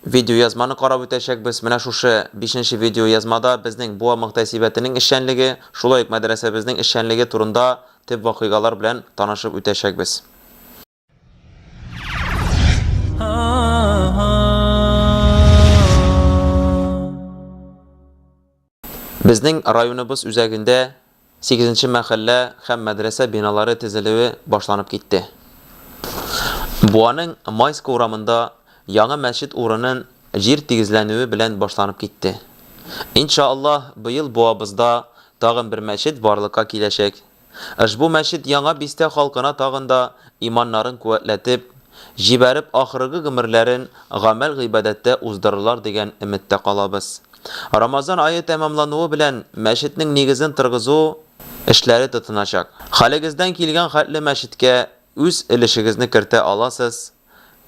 Видеоязманы карап үтәчәкбез. Менә шушы бишенче видеоязмада безнең Буа мөхтәсибәтенең эшчәнлеге, шулай ук мәдрәсәбезнең эшчәнлеге турында төп вакыйгалар белән танышып үтәчәкбез. Безнең районыбыз үзәгендә сигезенче мәхәллә һәм мәдрәсә биналары тезелүе башланып китте. Буаның Майска урамында яңа мәчет урынын җир тигезләнүе белән башланып китте. Иншааллаһ, быел Буабызда тагын бер мәчет барлыкка киләчәк. Ошбу мәчет Яңа Бистә халкына тагын да иманнарын куәтләтеп, җибәреп ахыргы гомерләрен гамәл-гыйбадәттә уздырырлар дигән өметтә калабыз. Рамазан ае тәмамлануы белән мәчетнең нигезен тыргызу эшләре тотыначак. Хәлегездән килгән хәтле мәчеткә үз өлешегезне кертә аласыз.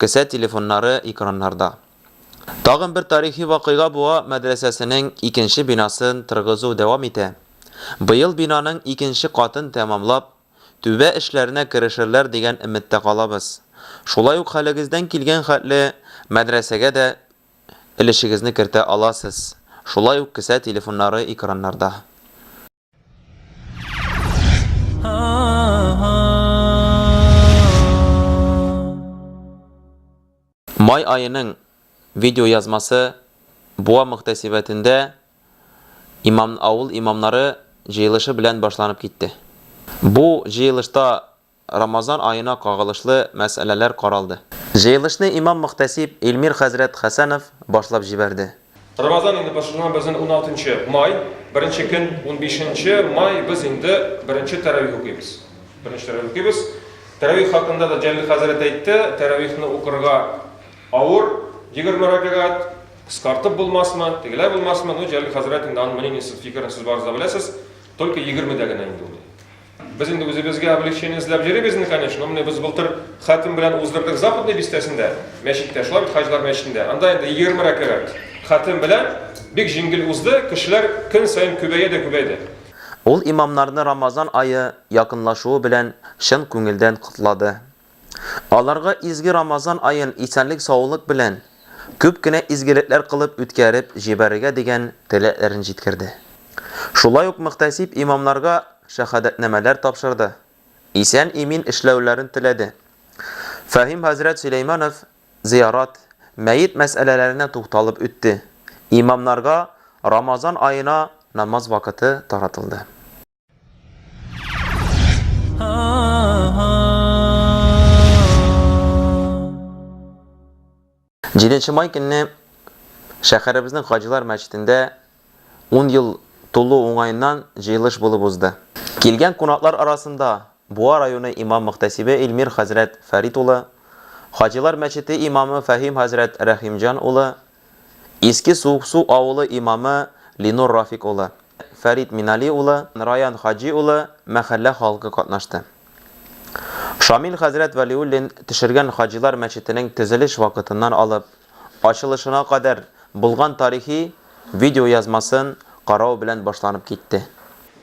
Кесә телефоннары экраннарда. Тагын бер тарихи вакыйга буа мәдрәсәсенең икенче бинасын торгызу дәвам итә. Быел бинаның икенче катын тәмамлап, түбә эшләренә керешерләр дигән өметтә калабыз. Шулай ук хәлегездән килгән хәтле мәдрәсәгә дә өлешегезне кертә аласыз, шулай ук кесә телефоннары экраннарда. Май айының видеоязмасы Буа мөхтәсибәтендә имам, авыл имамнары җыелышы белән башланып китте. Бу җыелышта Рамазан аена кагылышлы мәсьәләләр каралды. Җыелышны имам-мөхтәсиб Илмир хәзрәт Хәсәнов башлап җибәрде. Рамазан инде башланган безнең уналтынчы май, беренче көн, унбишенче май без инде беренче тәравих укыйбыз. Беренче тәравих укыйбыз. Тәравих хакында да Җәлил хәзрәт әйтте, тәравихны укырга авыр, егерме рәкәгать, кыскартып булмасмы, тегеләй булмасмы, ну, Җәлил хәзрәт инде аның мнениесен, фикерен сез барыгыз да беләсез, только егермедә генә инде ул. Без инде үзебезгә облегчение эзләп йөрибез инде, конечно, менә без былтыр хатим белән уздырдык Западный бистәсендә, мәчеттә, шулай бит, хаҗилар мәчетендә. Анда инде 20 рәкәгать хатим белән бик җиңел узды, кешеләр көн саен күбәя дә күбәйде. Ул имамнарны Рамазан ае якынлашуы белән чын күңелдән котлады. Аларга изге Рамазан аен исәнлек-саулык белән, күп кенә изгелекләр кылып үткәреп җибәрергә дигән теләкләрен җиткерде. Шулай ук мөхтәсиб имамнарга шәһадәтнамәләр тапшырды, исән-имин эшләүләрен теләде. Фәһим хәзрәт Сөләйманов зыярат, мәет мәсьәләләренә тукталып үтте, имамнарга Рамазан аена намаз вакыты таратылды. Җиденче май көнне шәһәребезнең Хаҗилар мәчетендә ун ел тулу уңаеннан җыелыш булып узды. Килгән кунаклар арасында Буа районы имам-мөхтәсибе Илмир хәзрәт Фәрит улы, Хаҗилар мәчете имамы Фәһим хәзрәт Рәхимҗан улы, Иске Суыксу авылы имамы Линур Рафик улы, Фәрит Минали улы, Раян Хаҗи улы, мәхәллә халкы катнашты. Шамил хәзрәт Вәлиуллин төшергән Хаҗилар мәчетенең төзелеш вакытыннан алып, ачылышына кадәр булган тарихи видеоязмасын карау белән башланып китте.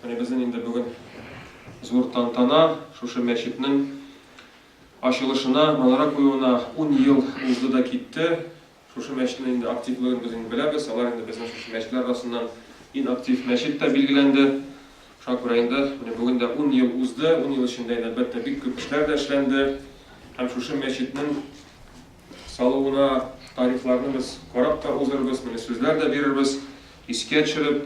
Менә безнең инде бүген зур тантана, шушы мәчетнең ачылышына манара куюына ун ел узды да китте. Шушы мәчетнең инде активлыгын без инде беләбез. Алар инде безнең шушы мәчетләр арасыннан ин актив мәчет тә билгеләнде. Шуңа күрә инде менә бүген дә ун ел узды. Ун ел эчендә инде, әлбәттә, бик күп эшләр дә эшләнде. Һәм шушы мәчетнең салуына тарихларны без карап та узырбыз, менә сүзләр дә бирербез, искә төшереп.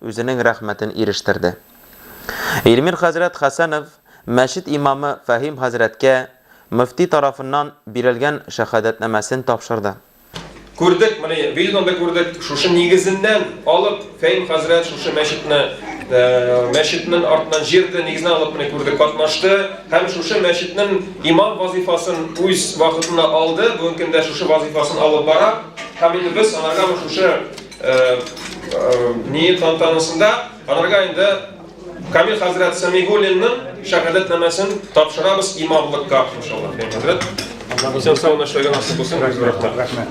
үзенең рәхмәтен ирештерде. Илмир хәзрәт Хәсәнов мәчет имамы Фәһим хәзрәткә мөфти тарафыннан бирелгән шәһадәтнамәсен тапшырды. Күрдек, моны видеодан да күрдек, шушы нигезеннән алып, Фәһим хәзрәт шушы мәчетне, мәчетнең артыннан җирде нигезеннән алып, менә күрдек, катнашты һәм шушы мәчетнең имам вазыйфасын үз вакытында алды, бүгенге көндә шушы вазыйфасын алып бара һәм инде без анарга шушы Ни тантанасында аларга инде Камил хәзрәт Самигуллинның шәһадәтнамәсен тапшырабыз имамлыкка иншаллаһ. Хәзрәт, исән сау эшләргә насыйп булсын. Рәхмәт.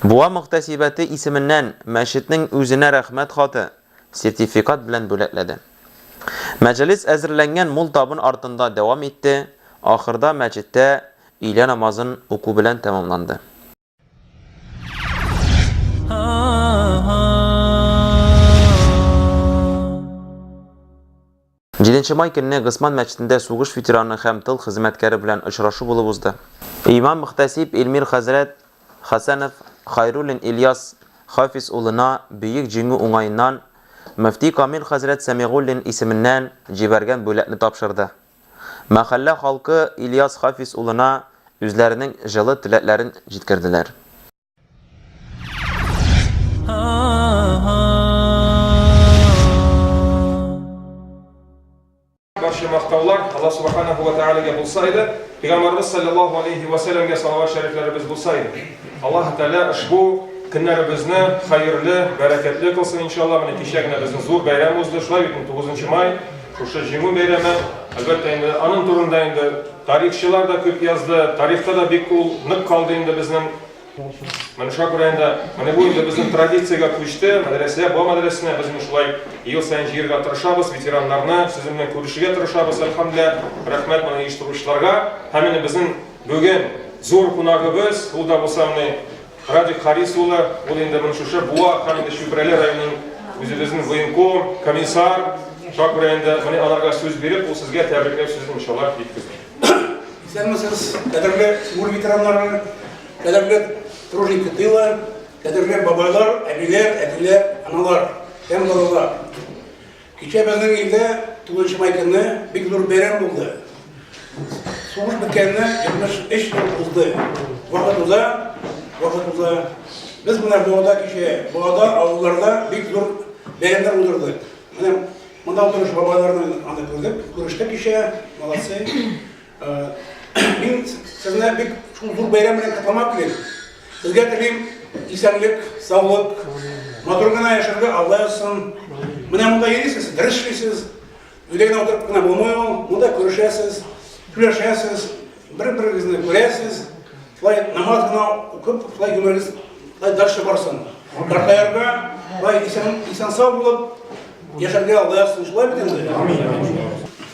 Буа мөхтәсибәте исеменнән мәчетнең үзенә рәхмәт хаты, сертификат белән бүләкләде. Мәҗалис әзерләнгән мул табын артында дәвам итте, ахырда мәчеттә өйлә намазын уку белән тәмамланды. Җиденче май көнне Госман мәчетендә сугыш ветераны һәм тыл хезмәткәре белән очрашу булып узды. Имам мөхтәсиб Эльмир хәзрәт Хәсәнов Хайруллин Ильяс Хафиз улына Бөек Җиңү уңаеннан, мөфти Камил хәзрәт Сәмигуллин исеменнән җибәргән бүләкне тапшырды. Мәхәллә халкы Ильяс Хафиз улына үзләренең җылы теләкләрен җиткерделәр. Барча мактаулар Алла Субаханәһү вә Тәгаләгә булса иде, Пәйгамбәребез салләллаһу алейһи вә сәлләмгә салават шәрифләребез булса иде. Аллаһы Тәгалә ошбу көннәребезне хәерле, бәрәкәтле кылсын, иншалла. Менә кичә генә безнең зур бәйрәм узды, шулай бит инде, тугызынчы май. Шушы Җиңү бәйрәме, әлбәттә инде, аның турында инде тарихчылар да күп язды, тарихта да бик ул нык калды инде безнең. Менә шуңа күрә инде, менә бу инде безнең традициягә күчте, мәдрәсә, бу мәдрәсәне без менә шулай ел саен җыерга тырышабыз, ветераннарны сезнең белән күрешергә тырышабыз, әлхәмдүлилләһ, рәхмәт моны оештыручыларга. Һәм менә безнең бүген зур кунагыбыз, ул да булса менә, Радик Харис улы, ул инде мон шушы Буа һәм инде Чүпрәле районын үзебезнен военком, комиссар, шуңа күрә инде моны аларга сүз биреп, ул сезгә тәбрикләү сүзен иншаллаһ җиткезер. Исәнмесез, кадерле Сугуш ветераннары, кадерле труженики тыла, кадерле бабайлар, әбиләр, әтиләр, аналар һәм балалар! Кичә безнең илдә 9 май көнне бик зур бәйрәм булды. Сугыш беткәненә 73 ел узды. Вакытында, вакытында без менә Буада кичә, Буада авылларда бик зур бәйрәмнәр уздырдык. Менә монда утыручы бабайларны аны күрдек, күрештек кичә, молодцы. Мин сезне бик шул зур бәйрәм белән котлап телим. Сезгә телим исәнлек, саулык, матур гына яшәргә Алла язсын. Менә монда йөрисез, дөрес эшлисез. Өйдә генә утырып кына булмый ул. Монда күрешәсез, сөйләшәсез, бер-берегезне күрәсез. Шулай намаз гына укып, шулай гомерегез шулай дальше барсын. Картаярга, шулай исән-сау булып яшәргә Алла язсын. Шулай бит инде? Амин.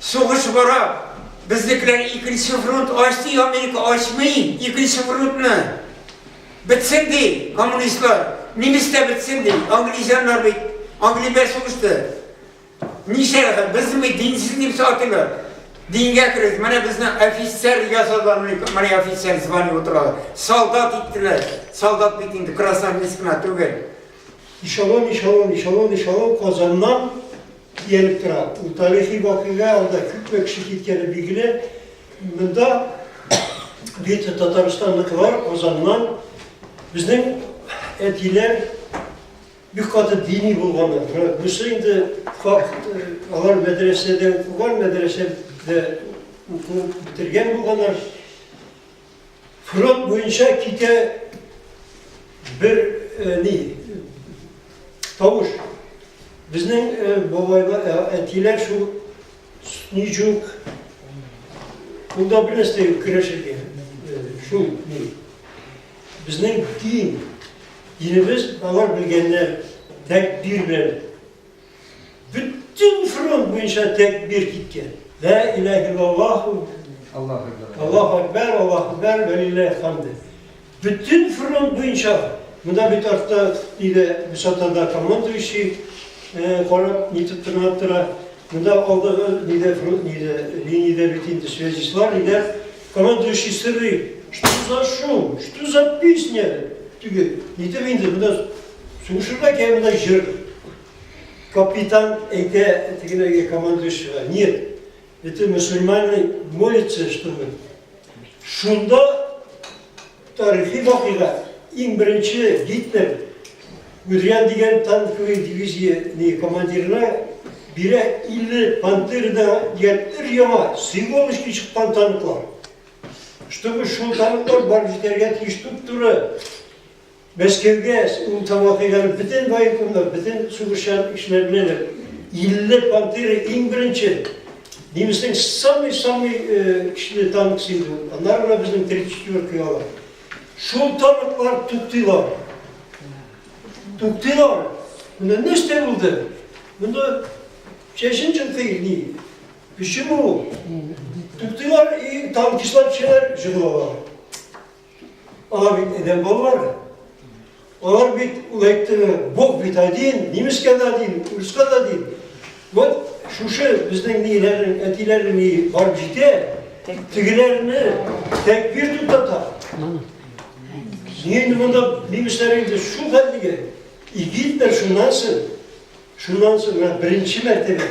Сугыш бара, безнекеләр икенче фронт ач ди, Америка ачмый икенче фронтны. Бетсен ди, коммунистлар, немец тә бетсен ди, англичаннар бит, Англиядә сугышты. Ничә рәхәт, без бит динсез немец атыйлар. Дингә керегез, менә безне офицер ясадылар, менә офицер звание утыралар. Солдат иттеләр, солдат бит инде, красавец кына түгел. Эшелон, эшелон, эшелон, эшелон Казаннан Киенеп тора. Бу тарихи вакыйга, анда күпме кеше киткәне билгеле. Монда бит Татарстанныкылар Казаннан безнең әтиләр бик каты дини булганнар. Бусы инде факт, э, алар мәдрәсәдә укыган, мәдрәсәдә укып бетергән булганнар. Фронт буенча китә бер ни тавыш. Безнең бабайлар, әтиләр шул снежук Кулда бер нәрсә юк, керәшергә. Шул ни. Безнең дин, динебез алар белгәннәр, тәкбир белән Бөтен фронт буенча тәкбир киткән. Лә иләһ иллаллаху Аллаһу Әкбәр. Аллаһу Әкбәр, Аллаһу Әкбәр, вәлилләһи хамде. Бөтен фронт буенча Монда бит артта иде высотада командующий карап нитеп тыңлап тора. Монда алдагы ниде ниде линиядә бит инде связистлар иде. Командующий сорый, что за шум, что за песня? Теге нитеп инде монда Сугышында кемдә җыр. Капитан әйтә тегеләргә командующийга, нет, это мусульманный молится, чтобы. Шунда тарихи вакыйга иң беренче Гитлер Гудриан дигән танковый дивизияне командирына бирә 50 пантерда дигән өр яңа сыймалышки чыккан танклар. Чтобы шул танклар барып җитәргә тиеш туп-туры Без кергәч, ул Тамак әйләнеп бөтен военкомнар, бөтен сугышчан кешеләр белән дә 50 пантеры иң беренче немецның самый самый көчле танкысы иде ул. Аннары гына безнең 34 алар. Шул танклар туктыйлар. Туктыйлар. Менә нәрсә булды? Монда чәчен чынкый ни? Почему? Туктыйлар и танкистлар кешеләр җыгылалар. Алар бит әдәм балалары. Алар бит, ул әйтте, Бог бит один, немецкая да один, русская да один. Вот шушы безнең ниләрнең, әтиләрнең ни барып җитә, тегеләрне тәкбир дип тата. Нинди монда немецләр инде шул хәтлегә, и Гитлер шуннан соң, шуннан соң, беренче мәртәбә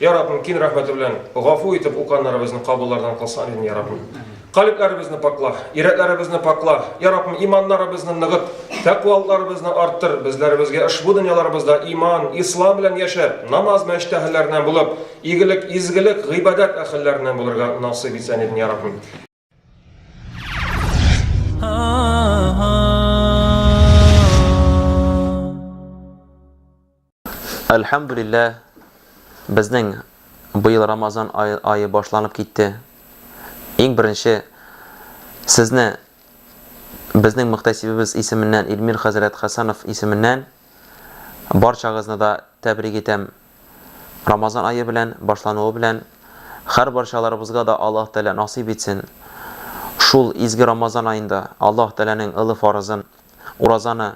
Йа Раббым, кин рәхмәте белән, гафу итеп, уканнарыбызны кабуллардан кылсын, амин, йа Раббым. Калебләребезне пакла, йөрәкләребезне пакла, йа Раббым, иманнарыбызны ныгыт, тәкъвалыкларыбызны арттыр, безләребезгә ошбу дөньяларыбызда иман, ислам белән яшәп, намаз мәчет әһелләреннән булып, игелек, изгелек, гыйбадәт әһелләреннән булырга насыйп итсен, амин, йа Раббым. Әлхәмдулилләһ, безнең быел Рамазан айы башланып китте. Иң беренче сезне безнең мөхтәсибебез исеменнән Илмир хәзрәт Хәсәнов исеменнән барчагызны да тәбрик итәм. Рамазан ае белән башлануы белән хәр барчаларыбызга да Аллаһ Тәгалә насыйп итсен, шул изге Рамазан аенда Аллаһ Тәгаләнең ылы фарызын, уразаны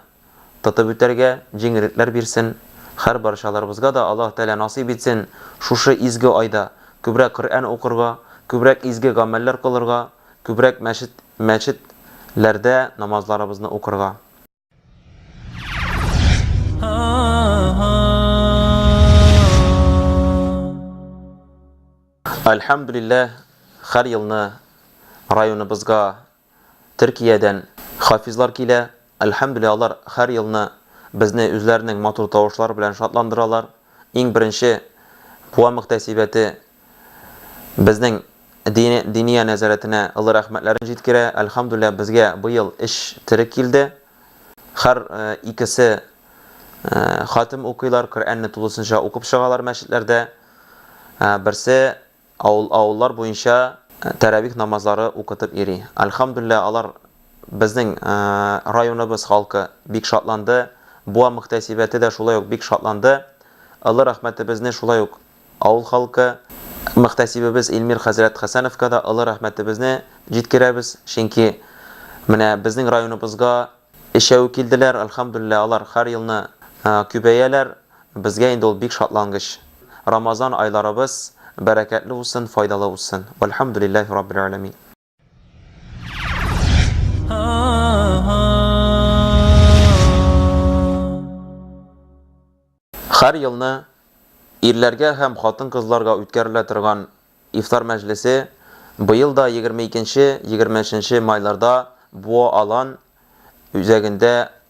тотып үтәргә җиңеллекләр бирсен, хәр барчаларыбызга да Аллаһ Тәгалә насыйп итсен, шушы изге айда күбрәк Коръән укырга, күбрәк изге гамәлләр кылырга, күбрәк мәчет мәчет ләрдә намазларыбызны укырга. Әлхәмдулилләһ, һәр елны районыбызга Төркиядән хафизлар килә. Әлхәмдулилләһ, алар һәр елны безне үзләренең матур тавышлары белән шатландыралар. Иң беренче Куа мөхтәсибәте Безнең Дине Диния нәзарәтенә олы рәхмәтләрен җиткерә. Әлхәмдүлилләһ, безгә быел эш терек килде. Хәр икесе хатем укыйлар, Коръәнне тулысынча укып чыгалар мәчетләрдә. Берсе авыл авыллар буенча тәравих намазлары укытып йөри. Әлхәмдүлилләһ, алар безнең районыбыз халкы бик шатланды. Буа мөхтәсибәте дә шулай ук бик шатланды. Олы рәхмәтебезне шулай ук Авыл халкы мөхтәсибебез Илмир хәзрәт Хәсәновка да олы рәхмәтебезне җиткерәбез, чөнки менә безнең районыбызга өчәү килделәр, әлхәмдүлилләһ, алар һәр елны күбәяләр, безгә инде ул бик шатлангыч. Рамазан айларыбыз бәрәкәтле узсын, файдалы узсын. Вәлхәмдүлилләһи раббил галәмин. Хәр елны ирләргә һәм хатын-кызларга үткәрелә торган ифтар мәҗлесе быел да 22-23 майларда Буа-Алан үзәгендә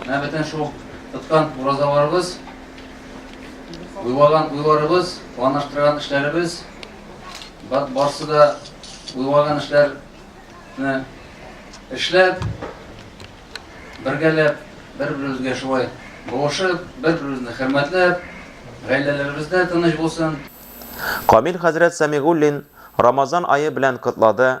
Менә бөтен шул тоткан уразаларыбыз, уйлаган уйларыбыз, планлаштырган эшләребез, барсы да уйлаган эшләрне эшләп, бергәләп, бер-беребезгә шулай булышып, бер-беребезне хөрмәтләп, гаиләләребездә тыныч булсын. Камил хәзрәт Сәмигуллин Рамазан ае белән котлады.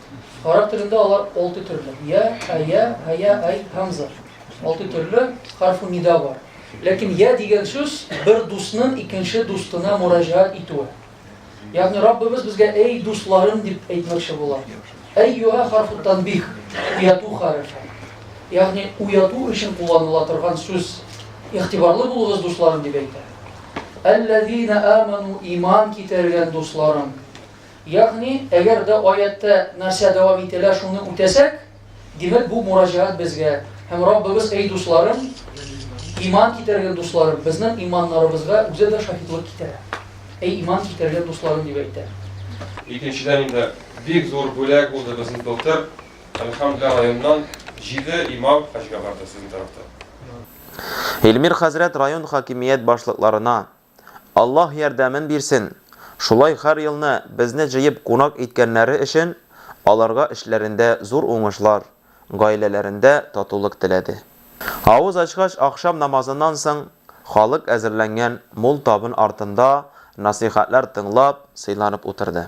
Гарәп телендә алар алты төрле. Я, ая, ая, ай, хамза. Алты төрле харфу нида бар. Ләкин я дигән сүз бер дусның икенче дустына мураҗаат итүе. Ягъни Раббыбыз безгә әй дусларым дип әйтмәкче була. Әй юга харфу танбих, уяту харфы. Ягъни уяту өчен кулланыла торган сүз. Ихтибарлы булыгыз дусларым дип әйтә. Әлләзина аману иман китергән дусларым. Ягъни, әгәр дә аятьтә нәрсә дәвам ителә, шуны үтәсәк, димәк, бу мураҗәгать безгә. Һәм Раббыбыз, Әй дусларым, иман китергән дусларым, безнең иманнарыбызга үзе дә шаһитлык китерә. Әй иман китергән дусларым дип әйтә. Икенчедән инде, бик зур бүләк булды безнең былтыр, Әлхәмдүлилләһ, районнан җиде имам хаҗга барды сезнең тарафтан. Илмир хәзрәт район хакимият башлыкларына, Аллаһ ярдәмен бирсен! Шулай хәр елны безне җыеп кунак иткәннәре өчен аларга эшләрендә зур уңышлар, гаиләләрендә татулык теләде. Авыз ачкач ахшам намазыннан соң халык әзерләнгән мул табын артында насыйхәтләр тыңлап, сыйланып утырды.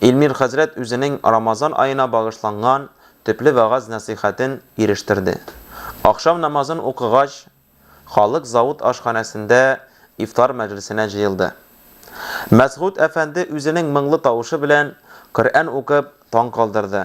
Илмир хәзрәт үзенең Рамазан аена багышланган төпле вәгазь-нәсыйхәтен ирештерде. Ахшам намазын укыгач, халык завод ашханәсендә ифтар мәҗлесенә җыелды. Мәсгуть әфәнде үзенең моңлы тавышы белән Коръән укып таң калдырды.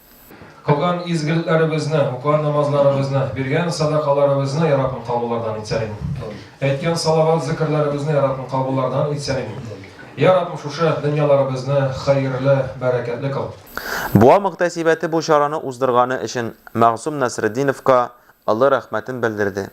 Кылган изгелекләребезне, укыган намазларыбызны, биргән садакаларыбызны Йә Раббым кабуллардан итсәлин. Әйткән салават-зекерләребезне Йә Раббым кабуллардан итсәлин. Йә Раббым шушы дөньяларыбызны хәерле, бәрәкәтле кыл. Буа мөхтәсибәте бу чараны уздырганы өчен Мәгъсум Насретдиновка олы рәхмәтен белдерде.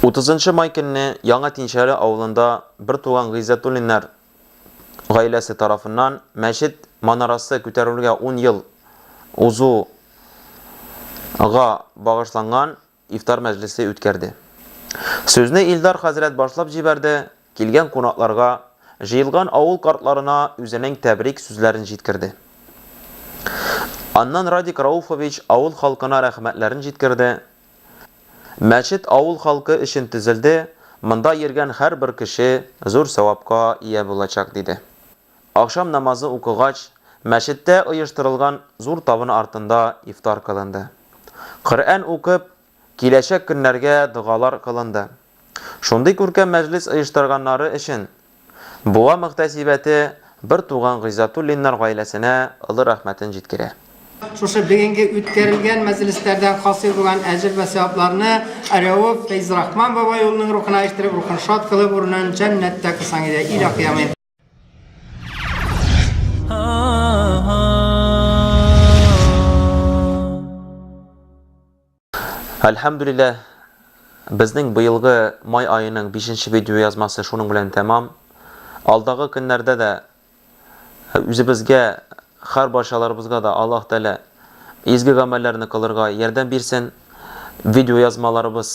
Утызынчы май көнне Яңа Тинчәре авылында бертуган Гыйззәтуллиннар гаиләсе тарафыннан мәчет манарасы күтәрелүгә ун ел узуга багышланган ифтар мәҗлесе үткәрде. Сүзне Илдар хәзрәт башлап җибәрде, килгән кунакларга, җыелган авыл картларына үзенең тәбрик сүзләрен җиткерде. Аннан Радик Рауфович авыл халкына рәхмәтләрен җиткерде, Мәчет авыл халкы өчен төзелде, монда йөргән һәрбер кеше зур савапка ия булачак, диде. Ахшам намазы укыгач, мәчеттә оештырылган зур табын артында ифтар кылынды. Коръән укып, киләчәк көннәргә догалар кылынды. Шундый күркәм мәҗлес оештырганнары өчен Буа мөхтәсибәте бертуган Гыйззатуллиннар гаиләсенә олы рәхмәтен җиткерә. Шушы бүгенге үткәрелгән мәҗлесләрдән хасил булган әҗер вә сәвапларны Рәүф Фәйзрахман бабай улының рухына ишеттереп, рухын шат кылып, урынын җәннәттә кылсаң иде, илаһи, амин. Әлхәмдүлилләһ, безнең быелгы май аеның бишенче видеоязмасы шуның белән тәмам. Алдагы көннәрдә дә үзебезгә, хәр барчаларыбызга да Аллаһ Тәгалә изге гамәлләрне кылырга ярдәм бирсен. Видеоязмаларыбыз